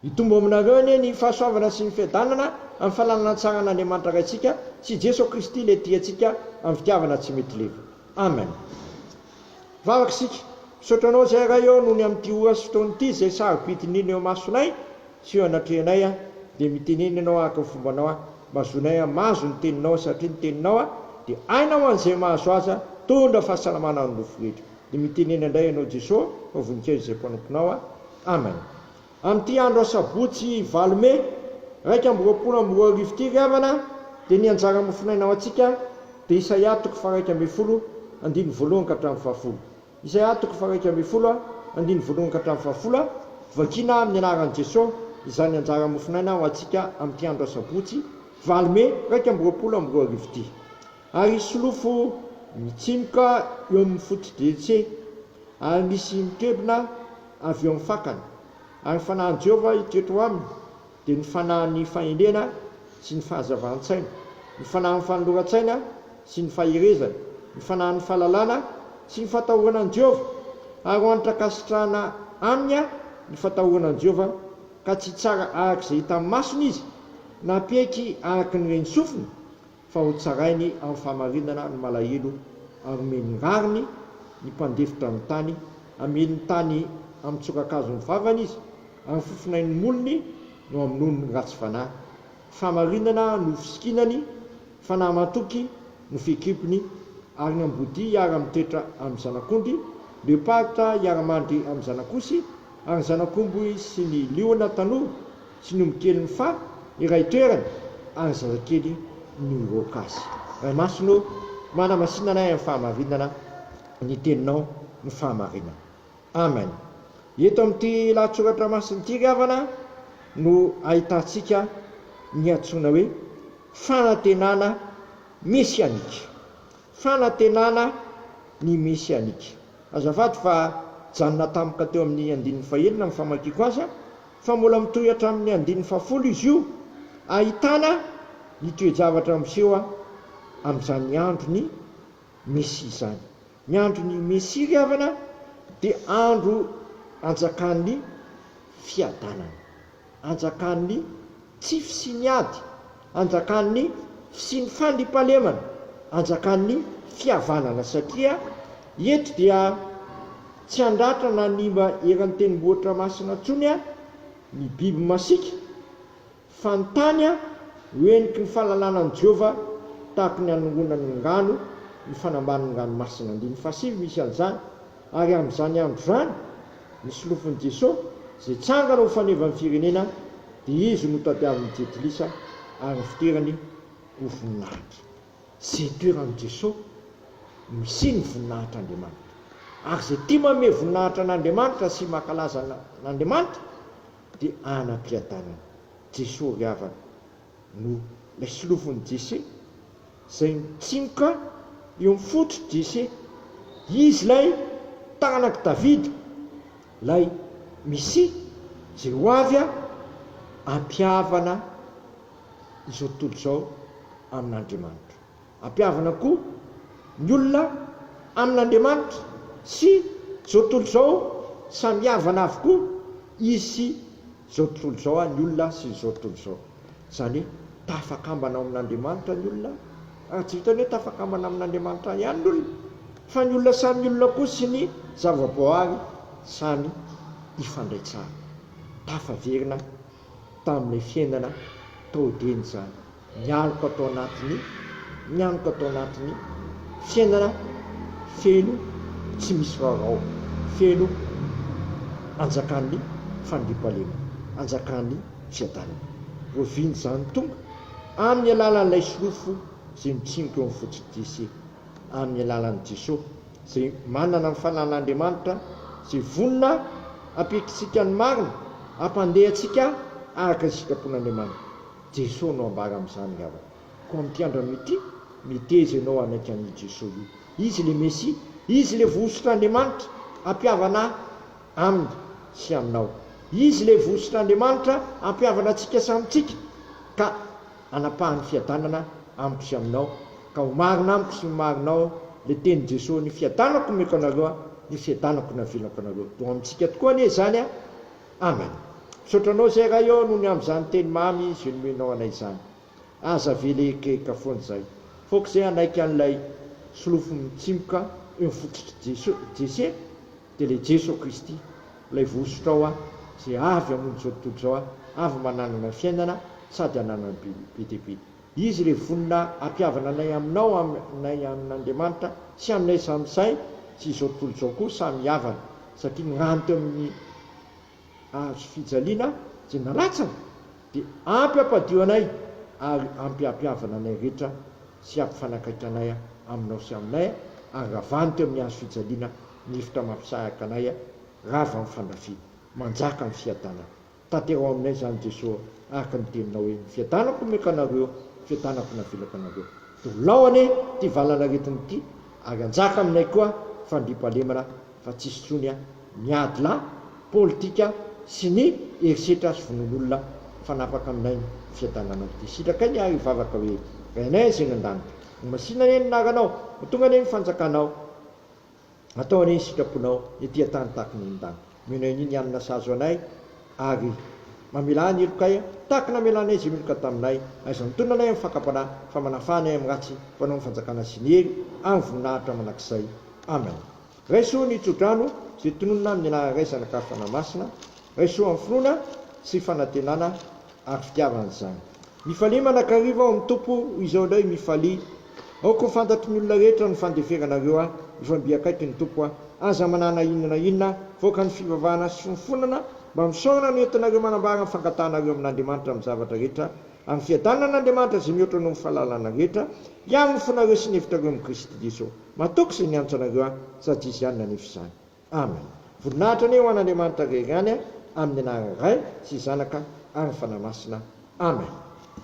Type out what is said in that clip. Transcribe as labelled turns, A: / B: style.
A: Hitombo aminareo anie ny fahasoavana sy ny fiadanana amin'ny fananana tsara an'Andriamanitra Raintsika sy i Jeso Kristy ilay tia antsika amin'ny fitiavana tsy mety leva. Amen. Vavaka isika. Misaotra Anao izay Ray ô nony amin'ity ora sy fotoana ity izay sarobidin'ny iny eo imasonay sy eo anatrehanay aho dia mitenena Ianao araka ny fombanao aho mba hazoanay hamazo ny Teninao satria ny Teninao aho dia hainao ho an'izay mahazo azy aho tondra fahasalamana ho an'ny nofo rehetra dia mitenena indray Ianao Jeso fa voninkazo izay mpanomponao aho. Amen. Amin'ity andro asabotsy valo mey iraika amby roapolo amby roa arivo ity ry havana dia ny anjara mofonaina ho antsika dia Isaia toko faharaika ambin'ny folo andininy voalohany ka hatramin'ny fahafolo Isaia toko faharaika ambin'ny folo andininy voalohany ka hatramin'ny fahafolo Vakina amin'ny anaran'i Jeso izany anjara mofonaina ho antsika amin'ity andro asabotsy valo mey iraika amby roapolo amby roa arivo ity Ary solofo mitsimoka eo amin'ny foto-dretse, ary misy mikebona avy eo amin'ny fakany. Ary ny fanahin'i Jehovah hitoetra ao aminy dia ny fanahin'ny fahendrena sy ny fahazavan-tsaina, ny fanahin'ny fanoloran-tsaina sy ny faherezana, ny fanahin'ny fahalalana sy ny fatahorana an'i Jehovah. Ary ho antra-kasitrahana aminy ny fatahorana an'i Jehovah, ka tsy hitsara araka izay hitan'ny masony izy, na hampieky araka ny ren'ny sofiny, fa ho tsarainy amin'ny fahamarinana ny malahelo ary omeny ny rariny ny mpandefitra ny tany, hamely ny tany amin'ny tsoran-kazo ny vavany izy, ary ny fofonain'ny molony no hamonoany ny ratsy fanahy. Fahamarinana no fisikinany, fanahy matoky no fikimpiny, ary ny ambodia hiara-mitoetra amin'ny zanak'ondry, leoparitra hiara-mandry amin'ny zanak'osy, ary ny zanak'omby sy ny liona tanora Sinomy keliny fa iray toerana ary zazakely no hiroaka azy. Ray Masina ô, manamasina anay amin'ny fahamarinana ny teninao no fahamarinana. Amen. Eto amin'ity lahatsoratra masina ity ry havana no ahitantsika ny antsoina hoe fanantenana mesianika. Fanantenana ny mesianika. Azafady fa janona tampoka teo amin'ny andininy fahenina amin'ny famakiako azy. fa mbola mitohy hatramin'ny andininy fahafolo izy io, ahitana ny toe-javatra miseho amin'izany andron'ny Mesia izany. Ny andron'ny Mesia, ry havana, dia andro anjakan'ny fiadanana, anjakan'ny tsy fisian'ny ady anjakan'ny fisian'ny fandriampahalemana, anjakan'ny fihavanana satria eto dia tsy handratra na hanimba eran'ny tendrombohitra masina intsony ny biby masiaka fa ny tany ho heniky ny fahalalana an'i Jehovah tahaka ny hanongonan'ny ngano ny fanambanin'ny ranomasina, andininy fahasivy, misy an'izany. Ary amin'izany andro izany, ny solofon'i Jeso, izay tsangana ho faneva ny firenena, dia izy no tadiavin'ny Jentilisa ary ny fiderany ho voninahitra. Izay toeran'i Jeso no hisian'ny voninahitr'Andriamanitra. Ary izay tia manome voninahitra an'Andriamanitra sy mankalaza an'Andriamanitra dia anam-piadanana. Jeso ry havana. no ilay filofon'ny DC izay mitsimoka eo amin'ny fototry DC. Izy ilay tanak'i Davida, ilay Mesia izay ho avy hampihavana izao tontolo izao amin'Andriamanitra. Ampihavana koa ny olona amin'Andriamanitra sy izao tontolo izao, samy havana avokoa izy sy izao tontolo izao, ny olona sy izao tontolo izao. Izany hoe tafakambana ao amin'Andriamanitra ny olona, ary tsy vitan'ny hoe tafakambana amin'Andriamanitra ihany ny olona, fa ny olona samy olona koa sy ny zava-boaary samy hifandray tsara. Tafaverina. tamin'ilay fiainana tao Edena izany, ny aloka tao anatin'ny, ny aloka tao anatin'ny fiainana feno tsy misy vaovao, feno anjakan'ny fandriampahalemana, anjakan'ny fiadanana. Oviana izany? Tonga amin'ny alalan'ilay sorofo izay mitsimoka eo amin'ny fototr'ity sy. amin'ny alalan'i Jesoa, izay manana ny fananan'Andriamanitra sy vonona hampitry isika ny marina, hampandeha antsika araka ny sitrapon'Andriamanitra. Jesoa no ambara amin'izany angamba. Koa ampiandra anao ity, miteza ianao hanaiky an'io Jesoa io. Izy ilay Mesia, Izy ilay vohosotr'Andriamanitra hampihavana Aminy sy aminao. Izy ilay vohosotr'Andriamanitra hampihavana antsika samintsika ka. anapahan'ny fiadanana amiko sy aminao, ka ho marina amiko sy ny marinao le tenin'i Jesoa ny fiadanako omeko anareo a, ny fiadanako navelako anareo, dia ho amintsika tokoa anie izany a, amen. Misaotra anao zay Ray ô noho ny amin'izany teny mamy ze nomenao anay izany. Aza avela eikaika foana izay, fa ok zay hanaiky an'ilay solofo mitsimoka eo fototr'i Jesoa, Jese, Dia ilay Jeso Kristy, ilay vohosotro ao aho, izay avy hamono izao tontolo izao aho, avy mba nanana fiainana sady hananany be be dia be. Izy ilay vonona hampihavana anay aminao, aminay amin'Andriamanitra, sy aminay samy sahy, sy izao tontolo izao koa samy hihavana, satria ny rano teo amin'ny. azo fijaliana izay nalatsany dia ampy hampadio anay ary ampy hampihavana anay rehetra sy hampifanakaiky anay aminao sy aminay ary ravano teo amin'ny hazo fijaliana ny rivotra mampisahaka anay rava amin'ny fandrafiana manjaka ny fiadanana tanterao aminay izany Jesoa araka ny teninao hoe ny fiadanako omeko anareo fiadanako no avelako anareo dia ho lao anie ity valanaretina ity ary hanjaka aminay koa fandriampahalemana fa tsy sotroiny ny ady lahy politika sy ny herisetra sy vonoan'olona mifanapaka aminay ny fiadananao. Dia sitrakay ny ahy hivavaka hoe, Rainay izay any an-danitra, ho masina anie ny anaranao, ho tonga anie ny fanjakanao, hatao anie ny sitraponao ety an-tany tahaka ny any an-danitra. Omena anio ny hanina sahaza anay, ary mamelà ny helokay tahaka ny namelanay izay meloka taminay, aiza mitonona anay amin'ny fakam-panahy, fa manafaha anay amin'ny ratsy, fa anao no fanjakana sy ny hery amin'ny voninahitra mandrakizay. Amen. Raiso ny tsodrano sy tononina amin'ny anararaisana ka fanahymasina, raiso amin'ny finoana sy fanantenana ary fitiavana izany. Mifalia manakariva ao amin'ny Tompo hoy izao indray Mifalia aoka ho fantatry ny olona rehetra ny fandeferanareo ahy, mifamby akaiky ny Tompo aho, aza manana inona na inona, voaka ny fivavahana sy finofonana mba misaorana no entinareo manambara ny fangatahanareo amin'Andriamanitra amin'ny zavatra rehetra, amin'ny fiadanan'Andriamanitra izay mihoatra noho ny fahalalana rehetra, hiaro ny fonareo sy ny hevitrareo amin'i Kristy Jesoa. Matoky izay niantso anareo aho, sady izy ihany nanefy izany. Amen. Voninahitra anie ho an'Andriamanitra rery ihany amin'ny anaran'ny Ray sy Zanaka ary ny Fanahy Masina. Amen.